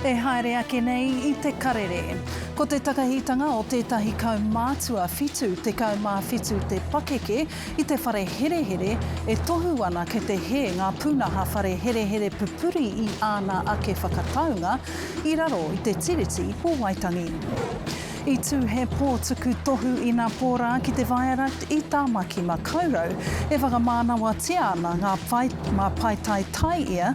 E haere ake nei i te karere. Ko te takahitanga o tētahi kaumātua whitu tekau mā whitu te pakeke i te whare herehere e tohu ana kei te hē ngā pūnaha whare herehere pupuri i āna ake whakataunga i raro i te Tiriti o Waitangi. I tū he pō tuku tohu ina pō rā ki te Viaduct i Tāmaki Makaurau. E whakamānawatia ana ngā pae, mā paetae tae ia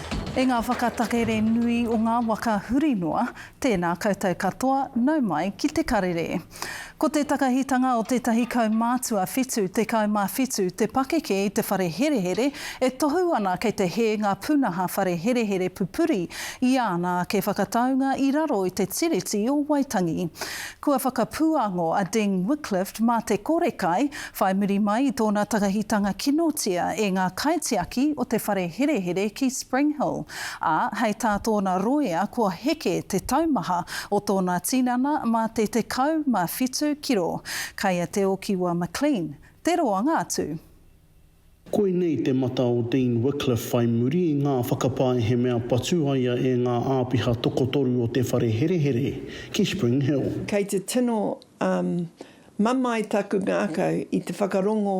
E ngā whakatakere nui o ngā waka huri noa, tēnā koutou katoa, nau mai ki te karere. Ko te takahitanga o tētahi kaumātua 77 te pakeke i te whare herehere e tohu ana kei te hē ngā pūnaha whare herehere pupuri i āna ake whakataunga i raro i te Tiriti o Waitangi. Kua whakapūango a Deng Wickliffe mā te kore kai Whai muri mai i tōna takahitanga kinotia e ngā kaitiaki o te whare herehere ki Spring Hill, ā, hei tā tōna rōia kua heke te taumaha o tōna tinana mā te 17 kiro. Kai a Te Okiwa McLean te roanga atu. Koinei te mata o Dean Wickliffe whai muri i ngā whakapae he mea patu a ia e ngā āpiha tokotoru o te whare herehere ki Spring Hill. Kei te tino mamae taku ngākau i te whakarongo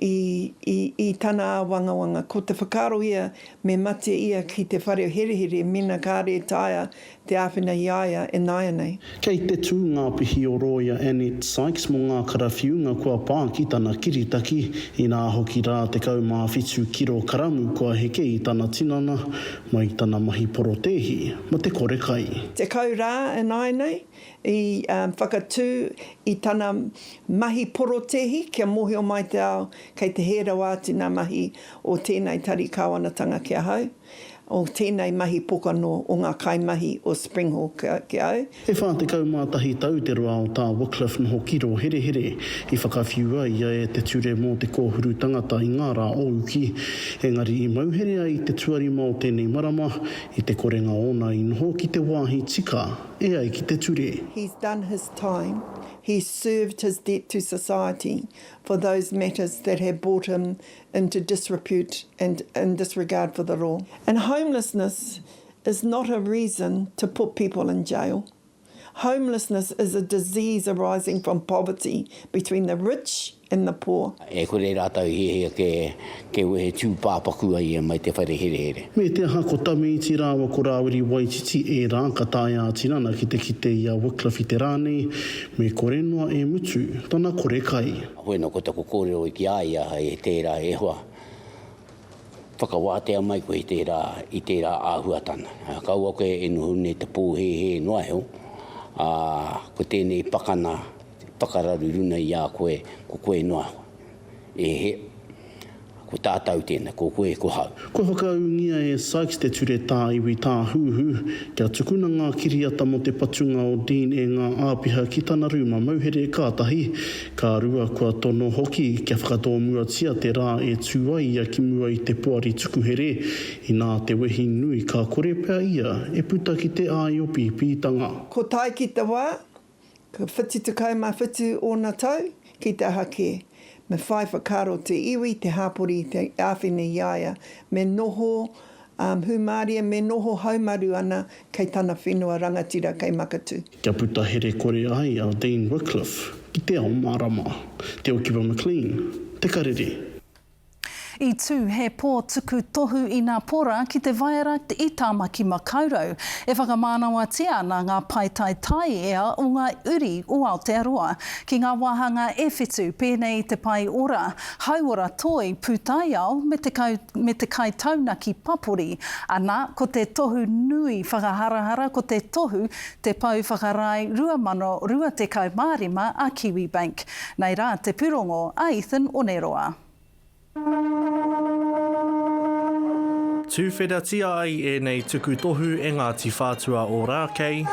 i tana āwangawanga, ko te whakaaro ia me mate ia ki te whare herehere mēnā kāre taea te āwhina i a ia e nāianei. Kei te tū ngā pihi o rōia Annette Sykes mō ngā karawhiunga kua pā ki tana kiritaki, inā hoki rā 17 kiro karamu kua heke i tana tinana mai i tana mahi porotēhi mō te kore kai. Tekau rā ināianei i whakatū i tana mahi porotēhi kia mōhio mai te ao kei te hē rawa atu ngā mahi o tēnei tari kāwanatanga ki ahau. o tēnei mahi pokano o ngā kaimahi o Springhawk ki au. E 41 tau te roa o tā Wycliffe noho ki Rōherehere, i whakawhiua ia e te ture mō te kōhuru tangata i ngā rā o uki. Engari i mau here ai te tuarima o tēnei marama, i te korenga ōna i noho ki te wāhi tika e ai ki te ture. He's done his time, he's served his debt to society for those matters that have brought him into disrepute and and disregard for the law. And homelessness is not a reason to put people in jail. Homelessness is a disease arising from poverty between the rich and the poor. E kore rātou i hiahia ke, ke wehe tūpāpaku a ia mai te whare herehere. Me te aha ko Tamiiti rāua ko Rāwiri Waititi ērā ka taea a Tinana ki te kite i a Wycliffe i te rā nei, me kore noa e mutu tana kore kai. Bueno, ko taku kōrero ki a ia he tērā e hoa, whakawātea mai koe i tērā, i tērā āhuatanga. Kaua koe e noho nei te pōhēhē noa iho, ā, ko tēnei pakana whakararu runa i a koe, ko koe noa iho. E he, Ko tātau tēnā, ko koe, ko hau. Kua whakaūngia e Sykes te Ture Tāiwi Tāhuhu kia tukuna ngā kiriata mō te patunga o Dean e ngā āpiha ki tana rūma mauhere kātahi ka rua kua tono hoki kia whakatōmuatia te rā e tū ai ia ki mua i te Poari Tukuhere inā te wehi nui ka kore pea ia e puta ki te āiopīpītanga. Ko tai ki te wā, Ka whitu tekau mā whitu ōna tau, ki te aha kē. Me whai whakaaro te iwi, te hāpori i te āwhina i a ia, me noho hūmārie, me noho haumaru ana kei tana whenua rangatira kei Makatū. Kia puta herekore ai a Dean Wycliffe ki te ao mārama, te okiwa McLean, te karere. I tū he pō tuku tohu i Nā Pora ki te waera i Tāmaki Makaurau. E whakamānawatia ana ngā paetae taiea o ngā uri o Aotearoa ki ngā wāhanga e whitu, pēnei i te pae ora, hauora toi, pūtaiao me te kau, me te kai taunaki papori. Anā, ko te tohu nui whakaharahara ko te tohu Te Pou Whakarae 2025 a Kiwibank. Nei rā te pūrongo a Ethan Oneroa. Tuwheratia ai ēnei tuku tohu e Ngāti Whātua Ōrākei.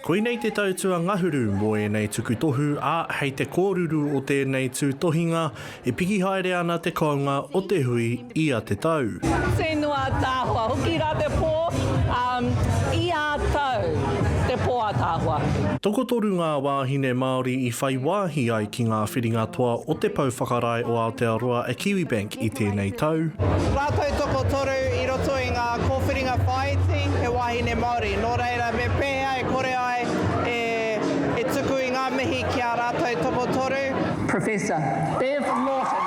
Koinei te tau tuangahuru mō ēnei tuku tohu, ā, hei te kōruru o tēnei tūtohinga, e piki haere ana te kounga o te hui, ia te tau. Tē noa ātaahoa hoki rā te pō, ā, i ā tau te pō ātaahoa. Tokotoru ngā wāhine Māori i whai wāhi ai ki ngā whiringa toa o te Pou Whakarae o Aotearoa a Kiwibank i tēnei tau. Rātou tokotoru i roto i ngā kōwhiringa whāiti he wāhine Māori, nō reira me pēhea e kore ai e tuku i ngā mihi ki ā rātou tokotoru? Professor Bev Lawton.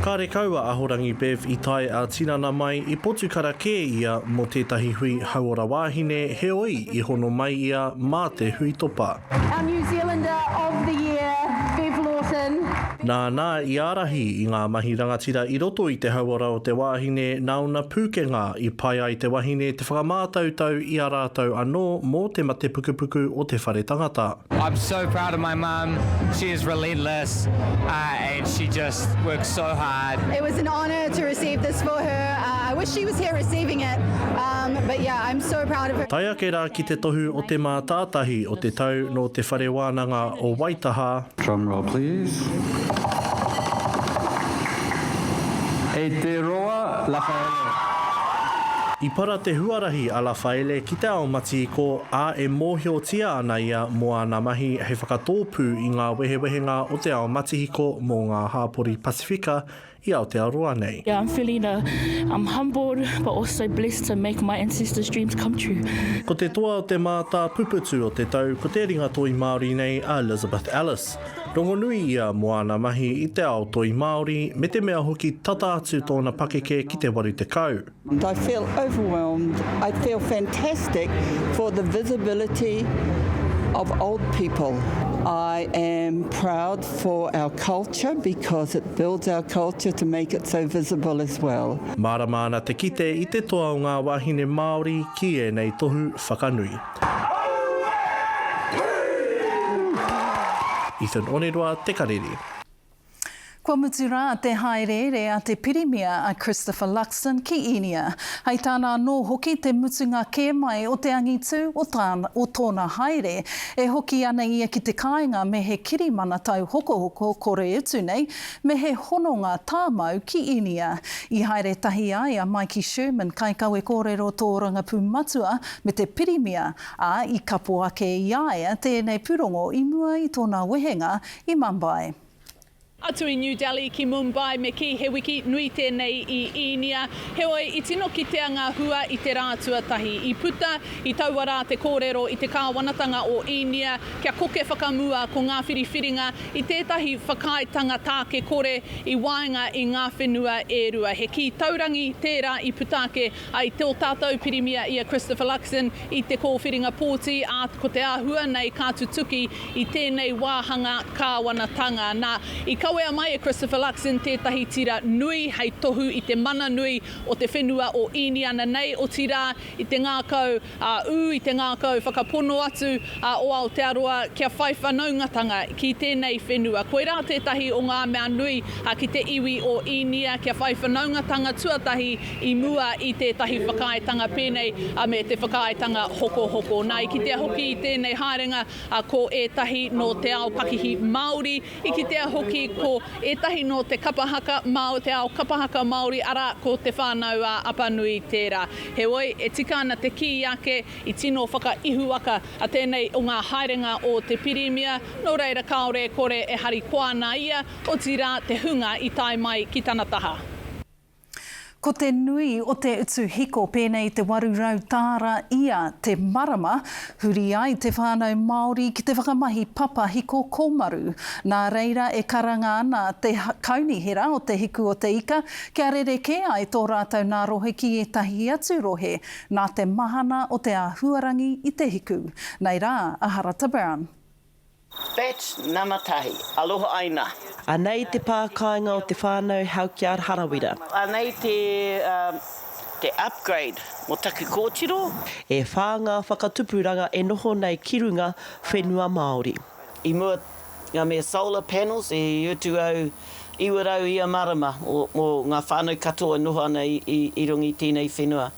Kārekau a Ahorangi Bev i tae a tinana mai i Potukara kē ia mō tētahi hui hauora wāhine heoi i hono mai ia mā te huitopa. Our New Zealander of the Year, Bev Lawson. Nāna i ārahi i ngā mahi rangatira i roto i te hauora o te wāhine nāona pūkenga i pai ai te wahine te whakamātautau i a rātou anō mō te matepukupuku o te whare tangata. I'm so proud of my mum. She is relentless uh, and she just works so hard. It was an honour to receive this for her. Uh, I wish she was here receiving it. Um, but yeah, I'm so proud of her. Tai ake rā ki te tohu o te mātātahi o te tau nō Te Whare Wānanga o Waitaha. Drum roll please. E te roa, Rafaele. I para te huarahi a Rafaele ki te ao mati ko ā, e mōhiotia ana ia mō ana mahi hei whakatōpū i ngā wehewehenga o te ao matihiko mō ngā hāpori Pasifika i Aotearoa nei. Yeah I'm feeling a I'm humbled but also blessed to make my ancestors dreams come true. Ko te toa o te mātāpuputu o te tau ko te ringa toi Māori nei a Elizabeth Ellis. Rongonui ia mō ana mahi i te ao toi Māori me te mea hoki tata atu tōna pakeke ki te 80. I feel overwhelmed, I feel fantastic for the visibility of old people. I am proud for our culture because it builds our culture to make it so visible as well. Mārama ana te kite i te toa o ngā wāhine Māori ki ēnei tohu whakanui. Ethan Oneroa, Te Karere. Kua mutu rā te hāereere a te Pirimia a Christopher Luxon ki Īnia, hei tāna anō hoki te mutunga kē mai o te angitū o tāna o tōna haere. E hoki ana ia ki te kāinga me he kirimana tauhokohoko kore utu nei, me he hononga tāmau ki Īnia. I haere tahi ai a Mikey Sherman, kaikawe kōrero tōrangapū matua, me te Pirimia, ā, i kapo ake i a ia tēnei pūrongo i mua i tōna wehenga I Mumbai. Atu i New Delhi ki Mumbai me kī he wiki nui tēnei i Īnia. Heoi, i tino kitea ngā hua i te rā tuatahi. I puta, i taua rā te kōrero i te kāwanatanga o Īnia kia koke whakamua ko ngā whiriwhiringa i tētahi whakaaetanga tāke kore i waenga i ngā whenua e rua. He kī taurangi tērā i puta ake I tō tātou Pirimia i a Christopher Luxon i te kōwhiringa pōti, ā, ko te āhua nei ka tutuki i tēnei wāhanga kāwanatanga. Nā, i kawea mai e Christopher Luxon tētahi tira nui hei tohu i te mana nui o te whenua o Īniana nei, otirā, i te ngākau a ū i te ngākau whakapono atu a o Aotearoa kia whai whanaungatanga ki tēnei whenua. Koirā tētahi o ngā mea nui ki te iwi o Īnia kia whai whanaungatanga tuatahi i mua i tētahi whakaaetanga pēnei me te whakaaetanga hokohoko. Nā, i kitea hoki i tēnei haerenga ko ētahi nō te ao pakihi Māori, I kitea hoki ko ētahi nō te kapa haka, te ao kapa haka Māori, arā, ko Te Whānau-ā-Apanui tērā. Heoi, e tika ana te kī ake, i tino whakaihuwaka a tēnei o ngā haerenga o te Pirimia, nō reira kāore e kore e harikoa ana ia, otirā te hunga i tae mai ki tana taha. Ko te nui o te utu hiko pēnei i te 800 tāra ia te marama, huri ai te whānau Māori ki te whakamahi papa hiko kōmaru. Nā reira e karanga ana te kaunihera o Te Hiku o te Ika kia rerekē ai tō rātou nā rohe ki ētahi atu rohe nā te mahana o te āhuarangi i Te Hiku. Nei rā a Harata Brown. Batch nama tahi. Aloha Aina. Anei te pā kāinga o te whānau Helkiard Harawira. Anei te te upgrade mo taku kōtiro. E whā ngā whakatupuranga e noho nei ki runga whenua Māori. I mua nga me solar panels i utu au iwa rau ia marama mo nga whanau katoa e noho ana i runga i tenei whenua.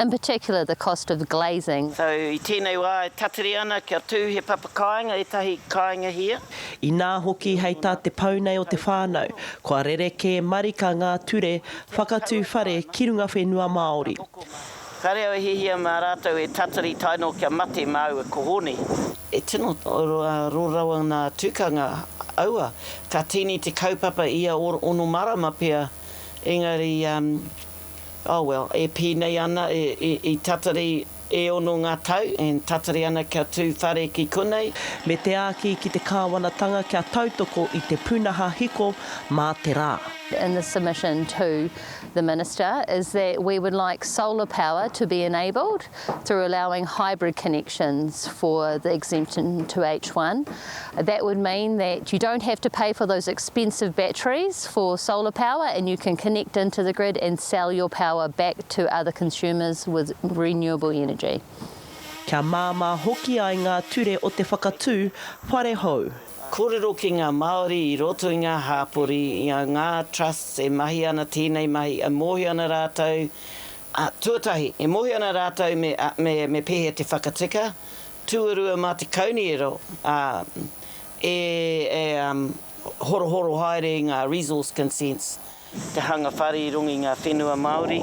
in particular the cost of glazing. So, i tēnei wā e tatari ana kia tū he papa kāinga, ētahi kāinga hia. Inā hoki hei tā te pou nei o te whānau, kua rerekē marika ngā ture whakatū whare ki runga whenua Māori. Kāre au e hiahia mā rātou e tatari tae noa kia mate māua ko Hone. E tino aro rawa ngā tukanga aua, ka tīni te kaupapa ia ono marama pea, engari. Oh well, e pēnei ana, i tatari e ono ngā tau, and tatari ana kia tū whare ki konei. Me te āki ki te kāwanatanga kia tautoko i te pūnaha hiko mā te rā. in the submission to the Minister is that we would like solar power to be enabled through allowing hybrid connections for the exemption to H1. That would mean that you don't have to pay for those expensive batteries for solar power and you can connect into the grid and sell your power back to other consumers with renewable energy. Kia māmā hoki ai ngā ture o te whakatū whare hou. Kōrero ki ngā Māori i roto i ngā hāpori, i a ngā trusts e mahi ana tēnei mahi, e mōhio ana rātou A, tuatahi, e mōhio ana rātou me, me, me pēhea te whakatika, tuarua mā te kauniero, a, e, e, um, horohoro haere i ngā resource consents. Te hanga whare i runga i ngā whenua Māori,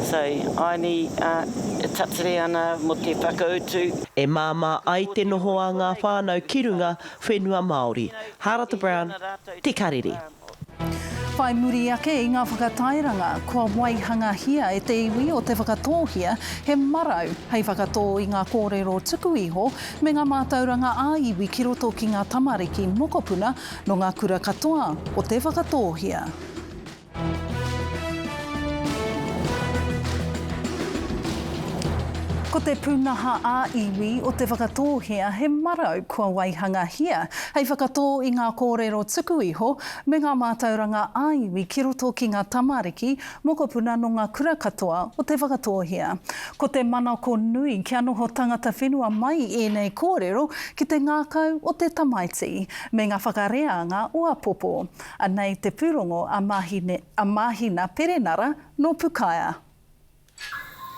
so, āni, a, e tatare ana mō te whakautu. E māmā ai te noho a ngā whānau ki runga whenua Māori. Harata Brown, Te Karere. Whai muri ake i ngā whakatairanga, kua waihangahia e te iwi o Te Whakatōhea he marau hei whakatō i ngā kōrero tuku iho me ngā mātauranga ā-iwi ki roto ki ngā tamariki mokopuna nō ngā kura katoa o Te Whakatōhea. Ko te pūnaha ā-iwi o Te Whakatōhea he marau kua waihangahia Hei whakatō i ngā kōrero tuku iho me ngā mātauranga ā-iwi ki roto ki ngā tamariki, mokopuna nō ngā kura katoa o Te Whakatōhea. Ko te manako nui kia noho tangata whenua mai ēnei kōrero ki te ngākau o te tamaiti, me ngā whakareanga o apopo. Anei te pūrongo a Mahina Perenara nō Pukaea.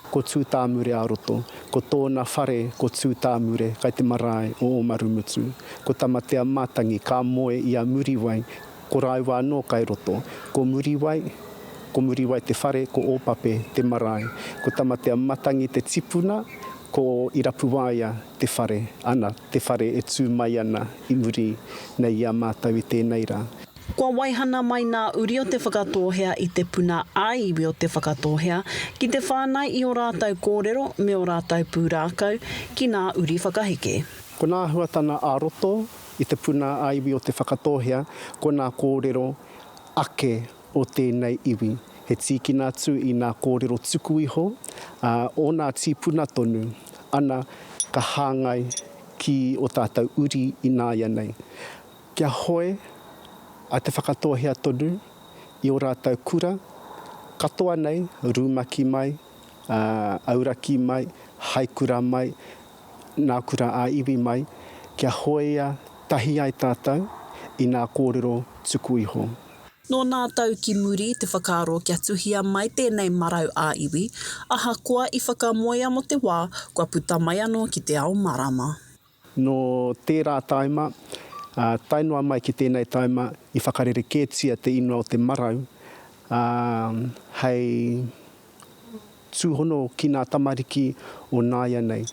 Ko Tūtāmure-ā-roto, ko tōna whare ko Tūtāmure kai te marae o Ōmarumutu. Ko Tamatea-matangi ka moe i a Muriwai, ko rāua anō kai roto. Ko Muriwai, ko Muriwai te whare, ko Ōpape te marae. Ko Tamatea-matangi te tipuna, ko Irapuwaia te whare, ana, te whare e tū mai ana i muri nei i a mātou i tēnei rā. Kua waihana mai nā uri o Te Whakatōhea i te puna ā-iwi o Te Whakatōhea ki te whānai i ō rātou kōrero me ō rātou pūrākau ki nā uri whakaheke. Ko nā āhuatanga ā-roto i te puna ā-iwi o Te Whakatōhea, ko nā kōrero ake o tēnei iwi. He tīkina atu i nā kōrero tuku iho, ā, o nā tīpuna tonu, ana ka hāngai ki ō tātou uri ināianei. Kia hoe a Te Whakatōhea tonu i ō rātou kura katoa nei, rumaki mai, auraki mai, hai kura mai, nā kura ā iwi mai, kia hoea tahi ai tātou i nā kōrero tuku iho. Nō nā tau ki muri te whakaaro kia tuhia mai tēnei marau ā iwi, ahakoa i whakamoea mō te wā kua puta mai anō ki te ao marama. Nō tērā tāima, ā, tae noa mai ki tēnei tāima, i whakarerekētia te ingoa o te marau, ā, hei tūhono ki ngā tamariki o nāianei,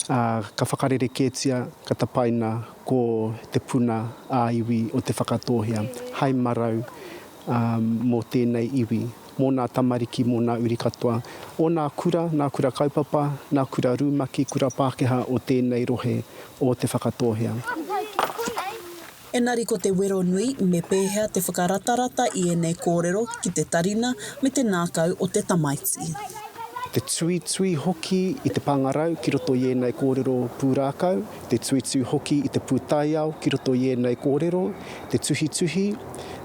ā, ka whakarerekētia, ka tapaina ko Te Puna ā-Iwi o Te Whakatōhea hai marau, ā, mō tēnei iwi. mō nā tamariki, mō nā uri katoa o nā kura, nā kura kaupapa, nā kura rumaki, kura Pākehā o tēnei rohe o Te Whakatōhea. Engari ko te wero nui, me pēhea te whakaratarata i ēnei kōrero ki te tarina me te ngākau o te tamaiti. Te tuitui hoki i te pāngarau ki roto i ēnei kōrero pūrākau. te tuitui hoki i te pūtaiao ki roto i ēnei kōrero, te tuhituhi,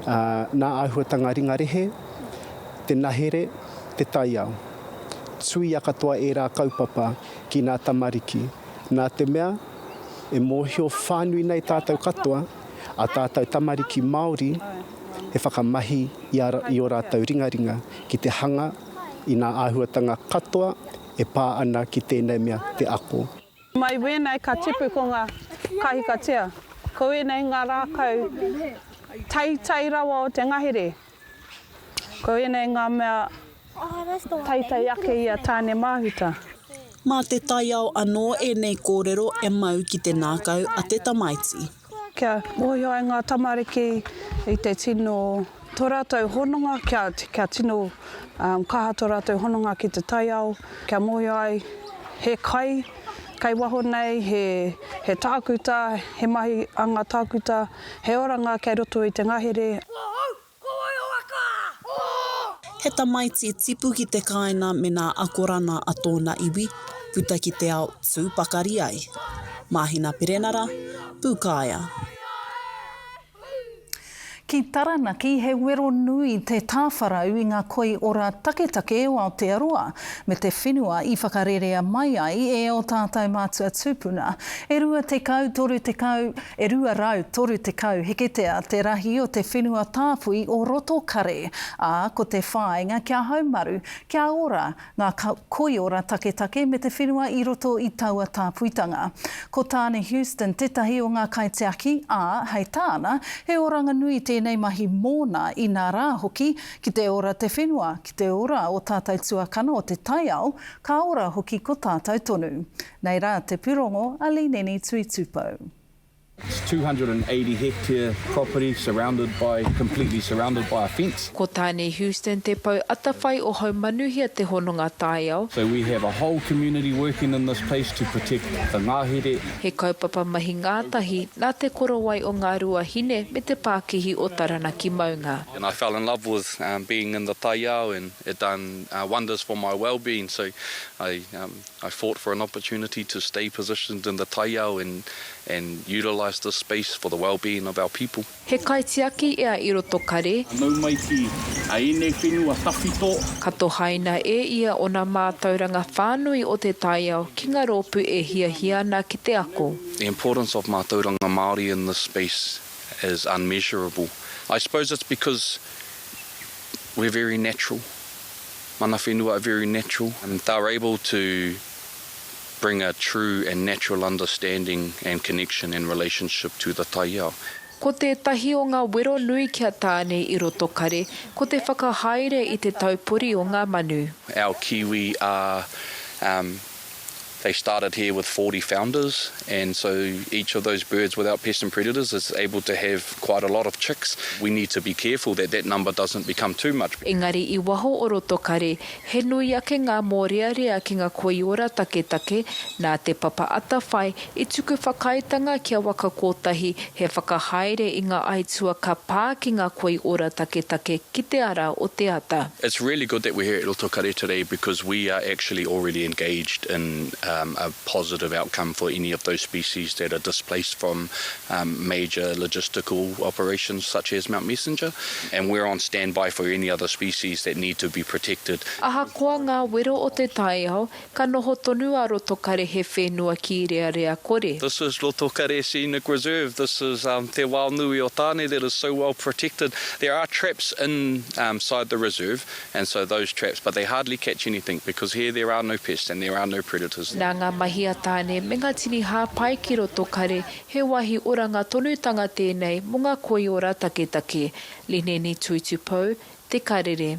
ā, nā āhuatanga ringa rehe, te nahere, te taiao. Tuia katoa ērā kaupapa ki nā tamariki, nā te mea, e mōhio whānui nei tātou katoa, a tātou tamariki Māori, he whakamahi i a, i ō rātou ringaringa ki te hanga i nā āhuatanga katoa e pā ana ki tēnei mea, te ako. Mai wēnei ka tipu ko ngā kahikatea, ko ēnei ngā rākau teitei rawa o te ngahere, ko ēnei ngā mea teitei ake i a Tāne-māhuta. Mā te taiao anō ēnei kōrero e mau ki te ngākau a te tamaiti. Kia mōhio ai ngā tamariki i te tino, tō rātou hononga, kia, kia tino um, kaha tō rātou hononga ki te taiao, kia mōhio ai he kai kei waho nei, he, he tākuta, he mahi a ngā tākuta, he oranga kei roto i te ngahere. Ko wai o waka? Ko. He tamaiti tipu ki te kāina me nā akorana a tōna iwi, puta ki te ao, tū pakari ai. Māhina Perenara, Pūkāea. Ki Taranaki, he wero nui te tāwharau i ngā koiora taketake o Aotearoa me te whenua i whakarerea mai ai e ō tātou mātua tūpuna. E 20, 30, E 230 heketea te rahi o te whenua tāpui o Rotokare, ā, ko te whāinga kia haumaru, kia ora ngā koiora taketake me te whenua i roto i taua tāpuitanga. Ko Tāne Houston tētahi o ngā kaitiaki, ā, hei tāna, he oranga nui tēnei mahi mōna, inā rā hoki, ki te ora te whenua, ki te ora ō tātou tuakana o te taiao, ka ora hoki ko tātou tonu. Nei rā te purongo a Lineni Tui Tupou. It's 280 hectare property surrounded by, completely surrounded by a fence. Ko Tainui Houston te pou atawhai o Haumanuhia Te Hononga Taiao. So we have a whole community working in this place to protect the ngahere. He kaupapa mahi ngātahi nā Te Korowai o Ngā Ruahine me Te Pākihi o Taranaki Maunga. And I fell in love with being in the taiao and it done wonders for my wellbeing so I I fought for an opportunity to stay positioned in the taiao and and utilise this space for the well-being of our people. He kaitiaki ia i roto kare. Nau mai ki a enei whenua tawhito. Ka tohaina e ia ona mātauranga whānui o te taiao ki nga rōpu e hiahia ana ki te ako. The importance of mātauranga Māori in this space is unmeasurable. I suppose it's because we're very natural. Mana whenua are very natural, they are able to bring a true and natural understanding and connection and relationship to the taiao. Ko tētahi o ngā wero nui ki a Tāne i roto kare, ko te whakahaere i te taupori o ngā manu. Our Kiwi are they started here with forty founders and so each of those birds without pests and predators is able to have quite a lot of chicks, we need to be careful that that number doesn't become too much. Engari i waho o roto kare, he nui ake ngā mōrearea ki ngā koiora taketake nā te papa atawhai I tuku whakaaetanga kia waka kotahi he whakahaere i nga aitua ka pa ki nga koiora taketake ki te ara o te ata. It's really good that we're here at Roto Kare today because we are actually already engaged in a positive outcome for any of those species that are displaced from major logistical operations such as Mount Messenger and we're on standby for any other species that need to be protected. Ahakoa ngā wero o te taiao, Ka noho tonu a Rotokare he whenua kīrearea kore. This is Rotokare Scenic Reserve, this is Te Wao Nui o Tane that is so well protected. There are traps inside the reserve and so those traps, but they hardly catch anything because here there are no pests and there are no predators. Nā ngā mahi a Tane me ngā tini hāpai ki Rotokare, he wāhi oranga tonutanga tēnei mō ngā koiora taketake, Lineni tuitupou, Te Karere.